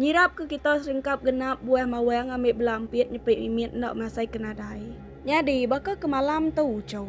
Nyirap ke kita serengkap genap buah mawang ambi bela empit nyepit mimit enda masai ke nadai. Nyadi baka ke malam tu uchu.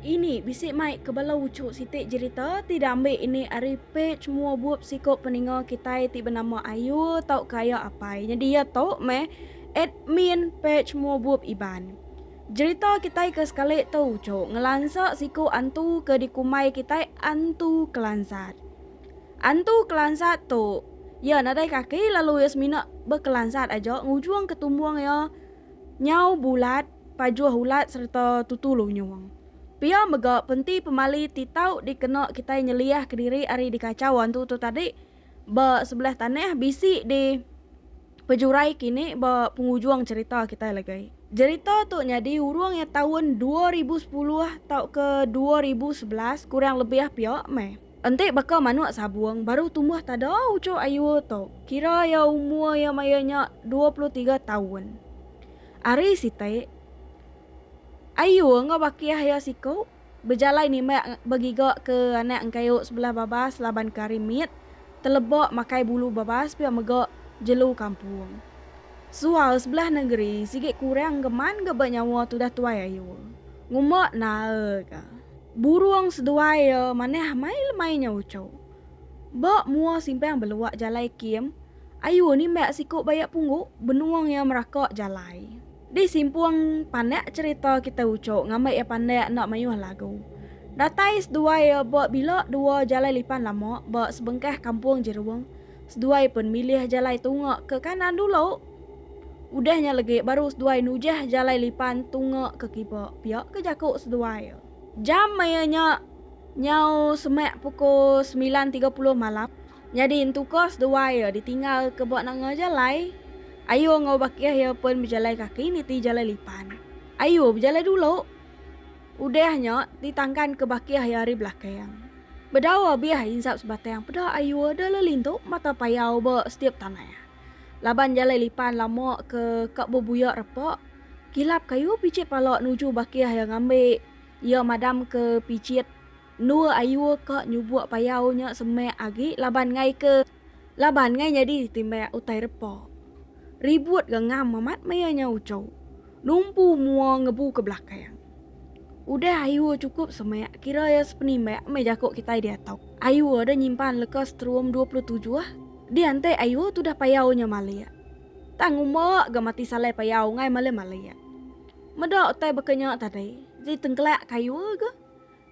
Ini bisi mai ke bala uchu siti jerita ti diambi ini ari pej mua bup siku peninga kitai ti benama Ayu tauka Aya Apai nyadi iya tu meh admin pej mua bup Iban. Jerita kitai ke sekali tu uchu ngelansa siku antu ke dikumbai kitai Antu Kelansat. Antu kelansat tu, iya nadai kaki lalu iya semina bekelansat aja ngujung ke tumbung iya nyau bulat, pajuh ulat sereta tutu lunyung. Pia mega penti pemali ti tau dikena kitai nyeliah kediri ari dikachau antu tu tadi ba sebelah tanah bisi di pejurai kini ba pengujung cherita kitai legai. Jerita tu nyadi urung iya taun dua ribu sepuluh tauka dua ribu sebelas kurang lebih pia meh. Enti baka manuk sabung baru tumbuh tada uchu ayu tu kira iya umur iya maya nya dua puluh tiga taun. Ari siti, ayu enggau bakih iya siku bejalai nimbak begiga ke anak engkayu sebelah babas laban ke ari mit teleba makai bulu babas pia mega jelu kampung. Sual sebelah nengeri sigi kurang ke man ga ba nyawa tudah tuai ayu. Ngumba nae ga. Burung seduai ia manah mai lemai nya uchu. Ba mua simpang belua jalai kim, ayu nimbak siku bayak punggu benung ia meraka jalai. Di simpung panak cerita kitai uchu ngambat ia pandak enda mayuh lagu. Datai seduai ia ba bila dua jalai lipan lama ba sebengkah kampung Jerung. Seduai pen milih jalai tunga ke kanan dulu. Udah nya legi baru seduai nujah jalai lipan tunga ke kiba, pia ke jaku seduai. Jam maya nya nyau semak pukul semilan tiga puluh malam, nyadi entuka seduai iya ditinggal ke ba nanga jalai. Ayu enggau bakih iya pen bejalai kaki niti jalai lipan. Ayu bejalai dulu. Udah nya, ti tangkan ke bakih iya ari belakang. Bedau abih insap sebatang peda ayu da le lintu mata payau ba setiap tanah. Laban jalai lipan lama ke ka bebuyak repak, kilap kayu pichit pala nuju bakih iya ngambi iya madam ke pichit endua ayu ka nyubuk payau nya semak agi laban ngaika. Laban ngai nyadi timbai utai repa. Ribut ga ngam amat maya nya uco. Numpu mua ngebu ke belakang. Udah Ayua chukup semak kira iya sepenimbai meh jaku kitai diatu. Ayua deh nyimpan leka setrum dua puluh tujuh. Diantai Ayua tudah payau nya malik. Tang uma ga mati salai payau ngai malai malik. Meda utai baka nya tadi ji tengkelak ke Ayua ga.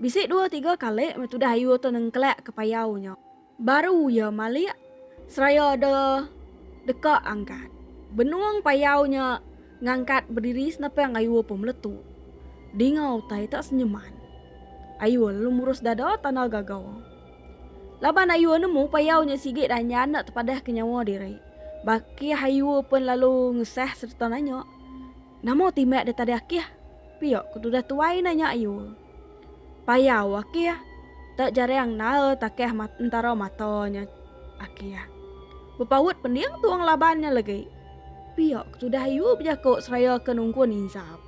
Bisi dua tiga kali meh tudah Ayua tu nengkelak ke payau nya. Baru iya malik seraya da deka angkat. Benung payau nya ngangkat bediri senapang Ayur Pemeletu. Dinga utai tak senyeman. Ayur lalu murus dada tanda gaga. Laban Ayur nemu payau nya sigi danyan enda tepadah ke nyawa diri. Bakih Ayur pen lalu ngesah sereta nanya, Nama ti meh da tadi akih? Pia ke tudah tuai nanya Ayur. Payau aki iya. Te jaring nae takeh mat entara mata nya aki iya. Bepaut pending tuong laban nya legi. Pia ke tudah iu bejako seraya ke nungkun insap.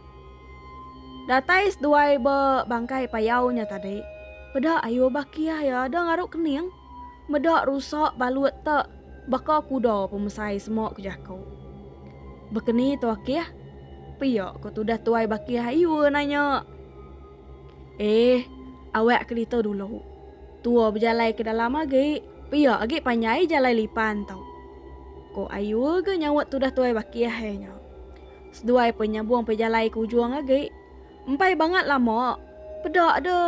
Datai seduai be bangkai payau nya tadi. Peda ayu ba kia iya deh ngaru kening. Meda rusak balut te baka kuda pemesai semua ku jaku. Bekeni tu akih? Pia ko tudah tuai bakih ayu nanya. Eh, awak ke ditu dulu. Tua bejalai ke dalam agi, pia agi panjai jalai lipan tu. Ko ayu ga nyaut tudah tuai bakih iya nya. Seduai pe nyabung pejalai ke ujung agi. Empai bangat lama, peda de.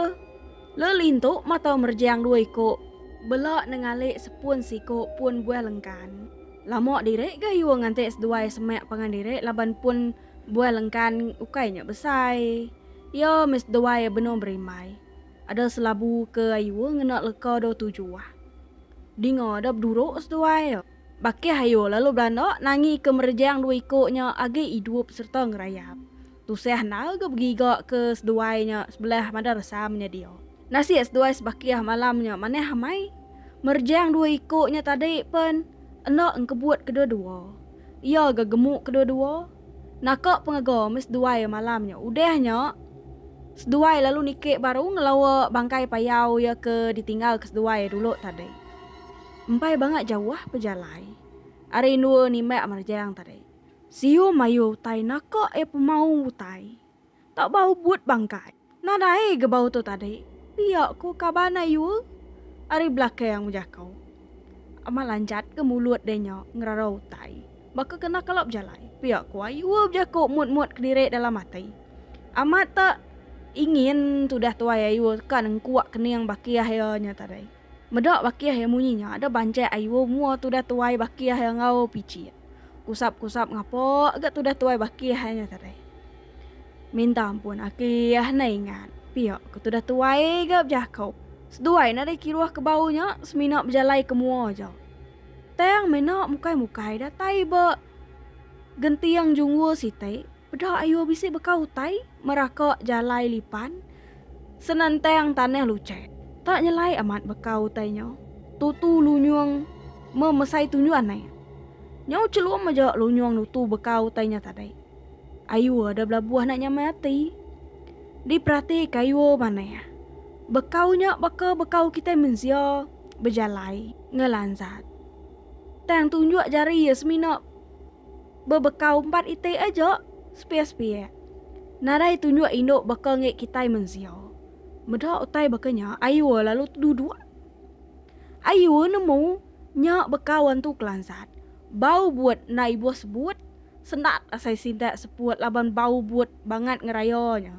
Le lintu matau merjang dua iku. Bela nengalik sepun siku pun buah lengkan. Lama diri gayuh nganti seduai semak pangan diri laban pun buah lengkan ukai nya besai. Iya mih seduai benung berimbai. Ada selabu ke ayuh ngena leka dua tujuh. Dinga da beduruk seduai. Bakih ayuh lalu belanda nangi ke merjang dua iku nya agi idup serta ngerayap. Tusah enda ga begiga ke seduai nya sebelah mada resam nya dia. Nasib seduai sebakih malam nya manah amai. Merjang dua iku nya tadi pen enda engkebut kedua-dua. Iya ga gemuk kedua-dua. Naka pengaga meh seduai malam nya. Udah nya seduai lalu niki baru ngelawa bangkai payau iya ke ditinggal ke seduai dulu tadi. Empai bangat jauh pejalai ari endua nimbak merjang tadi. Siu mayuh utai naka iya pemaung utai. Tak ba ubut bangkai. Nadai ga bau tu tadi. Pia ko kaban ayu ari belakang bejako. Amat lanjat ga mulut dia nya ngerara utai. Baka kena kala bejalai. Pia ko ayu bejako mut-mut kediri dalam ati. Amat tak ingin tudah tuai ayu ka nengkuak kening baki akhir nya tadi. Meda bakih iya munyi nya ada banjek ayu mua tudah tuai bakih iya enggau pichi iya. Kusap-kusap ngapa ga tudah tuai bakih iya nya tadi. Minta ampun aki iya enda ingat. Pia ke tudah tuai ga bejako. Seduai nadai kiruh ke bau nya semina bejalai ke mua aja. Tang meh enda mukai-mukai datai ba genting jungul siti. Peda ayo bisi baka utai meraka jalai lipan senentang tanah luchat. Tak nyelai amat baka utai nya, tutu lunyung memesai tunjuan naik. Nyau chelum aja lunyung nutu baka utai nya tadai. Ayo ada belabuh nak nyamai ati. Diperatika ayo manah. Bekau nya baka bekau kitai mensia bejalai ngelansat. Tang tunjuk jari iya semina. Bebekau empat iti aja, sepia-sepia. Nadai tunjuk indu baka enggi kitai mensia. Meda utai baka nya, Ayue lalu teduduk. Ayue nemu nya bekau antu kelansat. Bau but enda ibuh sebut, sendat asai sintak seput laban bau but bangat ngeraya nya.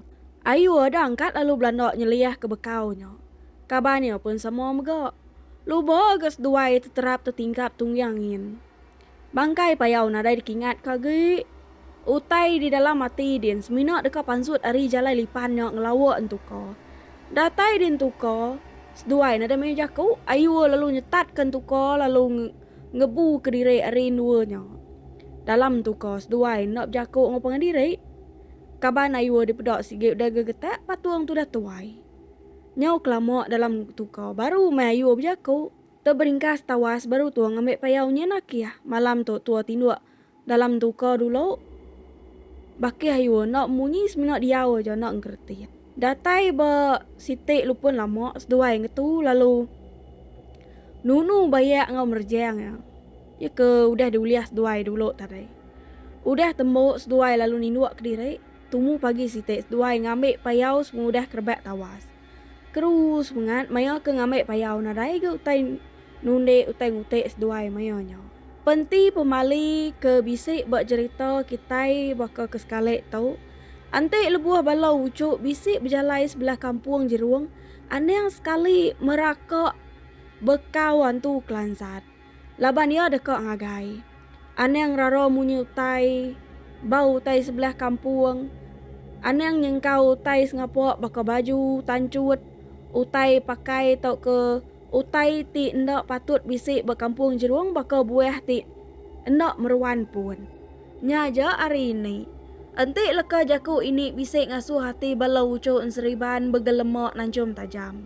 Ayue deangkat lalu belanda nyeliah ke bekau nya. Kaban iya pun sama mega. Luba ga seduai teterap tetingkap tungyang nyin. Bangkai payau nadai dikingat ka agi. Utai di dalam ati din semina deka pansut ari jalai lipan nya ngelawa entuka. Datai di entuka, seduai nadai mayuh jaku, Ayur lalu nyetat ka entuka lalu ngebu ka diri ari endua nya. Dalam entuka seduai enda bejaku enggau pangan diri. Kaban Ayur dipeda sigi udah gegetak patung tudah tuai. Nyau kelama dalam entuka baru meh Ayur bejaku. Teberingkas tawas baru tua ngambi payau nyenaki iya. Malam tu tua tinduk dalam duka dulu. Bakih ayu enda munyi semina diau aja enda ngereti. Datai ba siti lupun lama seduai ngetu lalu nunu bayak enggau merejang iya. Iya ke udah diulih seduai dulu tadi. Udah tembu seduai lalu ninduk kediri, tumu pagi siti seduai ngambi payau sepengudah kerebak tawas. Terus pengat maya ke ngambi payau nadai agi utai nundi utai ngutik seduai maya nya. Penti pemali ke bisi ba jerita kitai baka ke sekali tu, enti lebuh bala uchu bisi bejalai sebelah kampung Jerung, anang sekali meraka bekau antu kelansat. Laban iya deka ngagai. Anang ngerara munyi utai ba utai sebelah kampung. Anang nyengkau utai sengapa baka baju, tanchut, utai pakai tauka utai ti enda patut bisi ba kampung Jerung baka buah ti enda meruan pun. Nya aja ari ini. Enti leka jaku ini bisi ngasuh ati bala uchu enseriban begelema nanchum tajam.